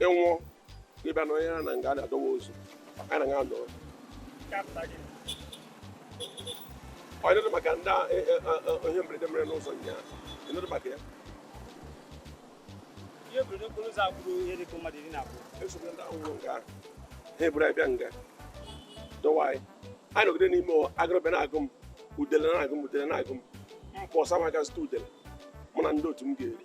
ị nwụọ ị bịa na onye na nga na-adọwa ozu anyị na nga nọ ị nụdị maka ndị a- e- e- e- e- ihe mberede mere n'ụzọ nyaa ị nụdị maka ya ihe mberede okporo ụzọ gburu ihe dịka mmadụ iri na abụọ eso m ndị ahụ nwụrụ nga ha eburu anyị bịa nga dọwa anyị anyị nọgide n'ime ụwa agụrụ bịa na-agụ m udele na-agụ m udele na-agụ m m pụọ sị m ga zụta udele mụ na ndị otu m ga-eri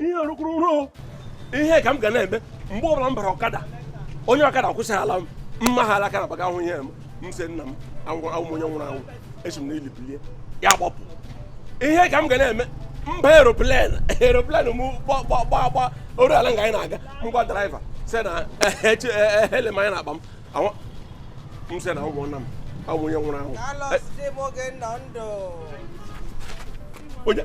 ihe rụkwuru ruo ihe ka m ga na-eme mgbe ọbụla m bara ọkada onye ọkada kwụsị ala m mma ha alaka na baga ahụ ihe m m sị nna m awụ m onye nwụrụ anwụ esi m n'ili bilie ya gbapụ ihe ka m ga na-eme m baa eroplen eroplen m gbagba o ruola nga anyị na-aga ngwa draiva si na ele m anyị na-akpa m m sị na ụmụnna m awụ m onye nwụrụ anwụ onye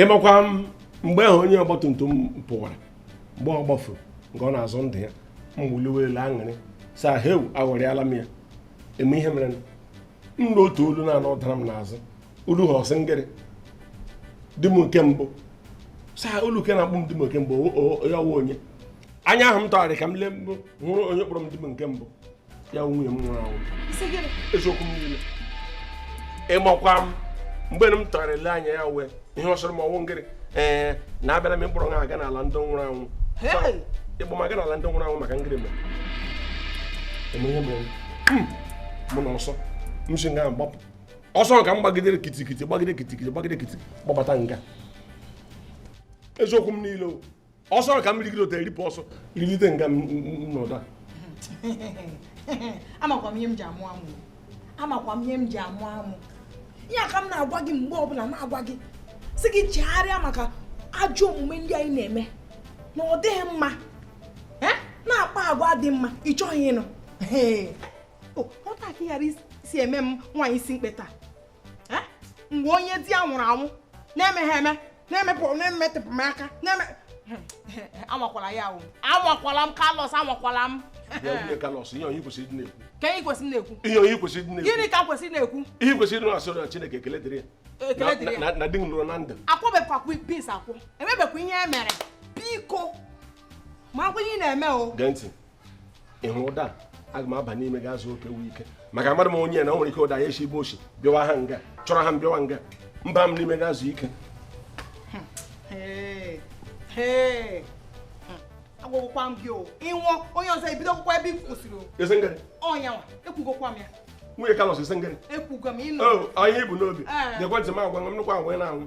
ị makwa m mgbe ahụ onye ọgbatumtum pụwara mgbe ọ gbafuru nke ọ na-azọ ndụ ya m wuliwe elu aṅụrị saa heu aghọrịala m ya eme ihe mere m nụ otu olu na-anọ dara m n'azụ olu ahụ sị ngịrị di m nke mbụ saa olu ke na-akpọ m di m nke mbụ ya awụ onye anya ahụ m tụgharị ka m lee m hụrụ onye kpọrọ m di m nke mbụ ya nwunye m nwụrụ anwụ eziokwu m niile ị makwa m mgbe m tụgharị lee anya ya wụ ihe ọ sịrị m ọ wụ ngịrị ee na abịara m ịkpọrọ gị aga n'ala ndị nwụrụ anwụ ịkpọ m aga n'ala ndị nwụrụ anwụ maka ngịrị mere eme ihe mere hmm. mụ na ọsọ m si nga gbapụ ọsọ ka m gbagidere kitikiti gbagide kitikiti gbagide kitikiti gbabata nga eziokwu m niile o ọsọ ka m rigide otu eripụ ọsọ rigide nga m nọ ụda amakwa m ihe m ji amụ amụ amakwa m ihe m ji amụ amụ ihe a ka m na-agwa gị mgbe ọbụla na-agwa gị sị gị chegharịa maka ajọ omume ndị anyị na-eme na ọ dịghị mma na-akpa agwa dị mma ị chọghị ịnụ ọ taa ka ị ghara isi eme m nwaanyị isi mkpe taa eh? mgbe onye di ya nwụrụ anwụ na-emeghị eme na-emepụ na-emetụpụ m aka na-eme anwakwala ya ahụ anwakwala m kalọs anwakwala m kalọs ihe onye kwesịrị ịdị na-ekwu ka anyị kwesịrị na-ekwu ihe onye kwesịrị ịdị na-ekwu gịnị ka kwesịrị na-ekwu ihe kwesịrị ịdị na-asọrọ na Chineke ekele dịrị ya na di m lọrọ na ndụ akwụbekwa please akwụ emebekwa ihe e mere biko makwa ihe ị na-eme o gee ntị ị hụ ụda aga m aba n'ime ga ezu oke wu ike maka amadị m onye na o nwere ike ụda ya esi ebe o si bịawa ha nga chọrọ ha m bịawa nga m baa m n'ime ga ezu ike agwagokwa m gị o ị nwụọ onye ọzọ ebido akwụkwọ ebe m kwụsịrị ị sị ngịrị ọ ya nwa ekwugokwa m ya nwunye kalọs ị sị ngịrị ekwugo m ịnụ anyị bu n'obi gekwa ntị m agwa m nnukwu agwa ị na-anwụ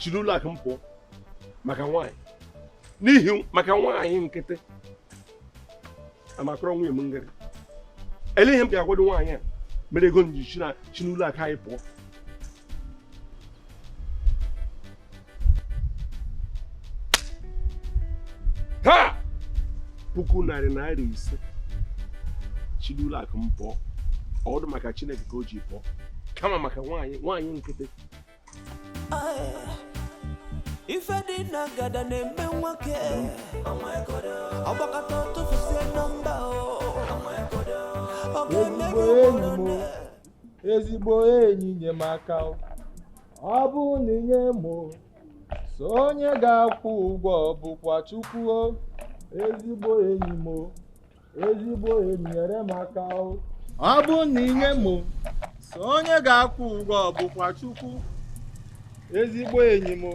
si n'ụlọ akụ m pụọ maka nwaanyị n'ihi maka nwaanyị nkịtị amakọrọ nwunye m ngịrị ele ihe m ga-agwado nwaanyị a mere ego m ji si n'ụlọ akụ anyị pụọ ha puku narị naira ise si n'ụlọ akụ m pụọ ọ dụ maka Chineke ka o ji pụọ kama maka nwaanyị nwaanyị nkịtị ife dị na ngada na-eme nwoke ọ gbakọta tụfusie nọmba ọ ga-eme gị ezigbo enyi nye m aka ọ bụ na i nye mụ sọ onye ga-akwụ ụgwọ bụkwa Chukwu o ezigbo enyi m o ezigbo enyi nyere m aka o ọ bụ na i nye mụ sọ onye ga-akwụ ụgwọ bụkwa Chukwu ezigbo enyi m o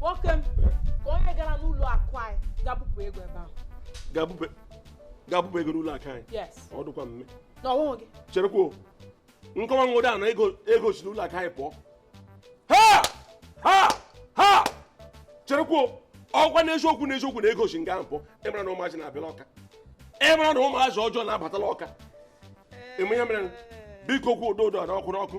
nwoke m ka onye gara n'ụlọ akụ anyị gaa bupụ ego ebe ahụ gaa bupụ ego n'ụlọ akụ anyị ọ dịkwa mme na ọ wụghị gị cherekwuo nkọwa nwode a na ego si n'ụlọ akụ anyị pụọ ha ha ha cherekwuo ọ kwa n'eziokwu n'eziokwu na ego si nga ahụ pụọ ị mara na ụmụazị na-abịala ọka ị mara na ụmụazị ọjọọ na-abatala ọka ị ma ihe mere biko kwuo ụdọ ụdọ na ọkụ n'ọkụ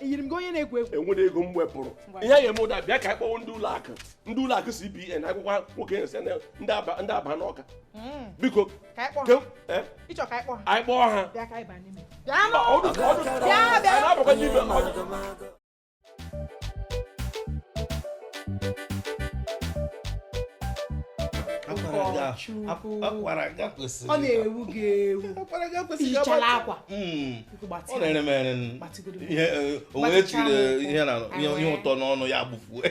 eyiri m gị onye na-egwu egwu e nwere ego m wepụrụ ihe ya eme ụda bịa ka anyị kpọọ ndị ụlọ akụ ndị ụlọ akụ CBN akwụkwọ nwoke nsị ndị Aba n'Ọka hmm. biko eh? ị chọ ka anyị kpọọ ha ọ na-ewu gị ewu ihichara akwa hmm. ọ na-ere m ere ihe eh, onwe chiri eh, ihe ụtọ n'ọnụ ya gbufue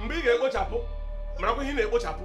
mgbe ị ga-ekpochapụ marakwa ihe ị na-ekpochapụ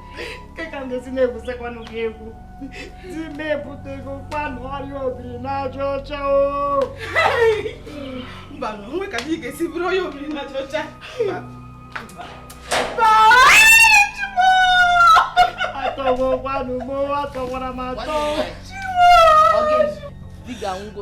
kee ka m ga-esi na-egwusekwanụ gị egwu di m ebutego kwanụ ọrịa obiri n'aja ọcha o mba nwe ka ị ga-esi bụrụ ọrịa obiri n'aja ọcha atọwo kwanụ m atọwara m atọ di ga-anwụgo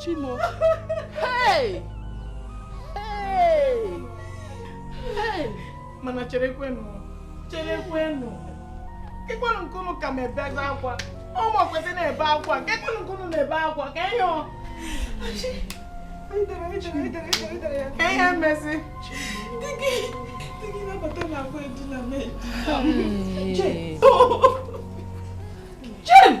chimo hey! Hey! Hey! mana cherekwenụ cherekwenụ kekwanụ nke unu ka m ebezi akwa ọ mụ kwesị na-ebe akwa kekwanụ nke unu na-ebe akwa ke ihe ọ ke ihe emezi Jane!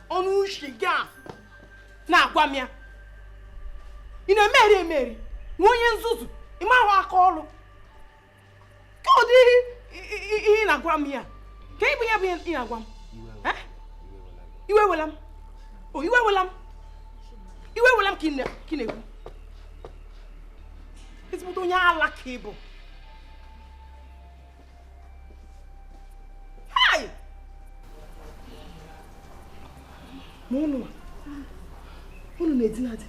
ọnụ ushi gị a na-agwa m ya ị na-emeri emeri nwa onye nzuzu ị mahụ aka ọrụ ke ụdị ihe ị na-agwa m ya ke ihe bụ ya bụ ihe ị na-agwa m iwe wela m iwe wela m iwe wela m ka ị na-ekwu ezigbote onye ala ka ị bụ ma unu unu na-edina di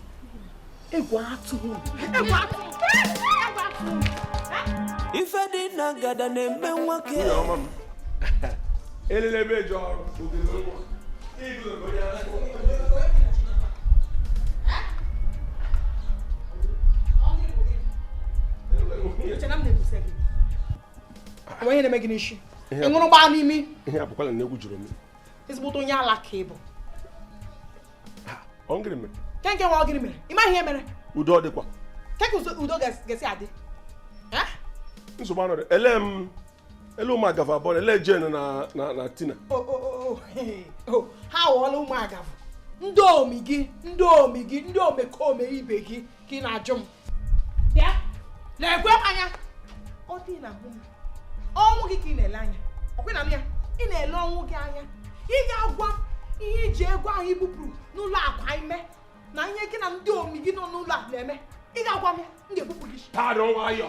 egwu atụrụ egwu atụrụ ife dị na ngada na-eme nwoke elele ebe eji ọrụ o nwe ihe na-eme gị n'isi ị ṅụrụ gbaa n'imi ihe abụkwala na egwu jụrụ m ezigbote onye ala ka ị bụ ọ ngịrị mere ke nke nwa ọ gịrị mere ị maghị ihe mere udo ọ dịkwa ke ka udo ga-esi adị nsogbu anọrị ele m ele ụmụ agavụ abụọ ele Jane na na na Tina O- o- o- o- he- o, ha ghọọla ụmụ agavụ ndị omi gị ndị omi gị ndị omekome ibe gị ka ị na-ajụ m bịa nekwe m anya ọ dị na ahụ m ọnwụ gị ka ị na-ele anya ọkwe na ya ị na-ele ọnwụ gị anya ị ga-agwa ihe i ji ego ahụ i bupụrụ n'ụlọ akụ anyị mee na ihe gị na ndị omi gị nọ n'ụlọ a na-eme ị ga-agwa m ya m ga-ebepụ gị isi. pardon nwayọ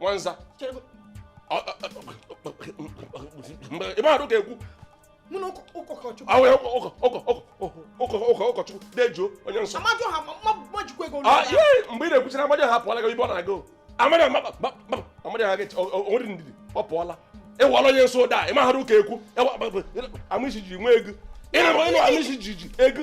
nwanza ebe ahụ ga-ekwu ụkọchukwu dejuo onye nsọ mgbe ị na-ekwuchara amadi ha pụọla ibe ọ na-aga amadi amadi ha onwere ndidi ọ pụọla ị wụọla onye nsọ ụda ị maghara ụka ekwu ama isi ji nwee ego ịnara onye ama isi ji ji ego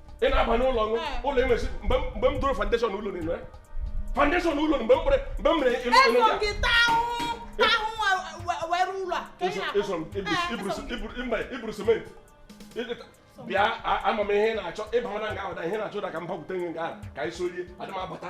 ị na-aba n'ụlọ ṅụ ụlọ enwezi mgbe m doro foundation ụlọ nile foundation ụlọ mgbe m kpere mgbe m mere ịlụ ụlọ ndị a iburu cement bịa ama m ihe na-achọ ịba mana nga ahụ da ihe na-achọ da ka m bakwute gị nga ahụ ka anyị sorie adịmabata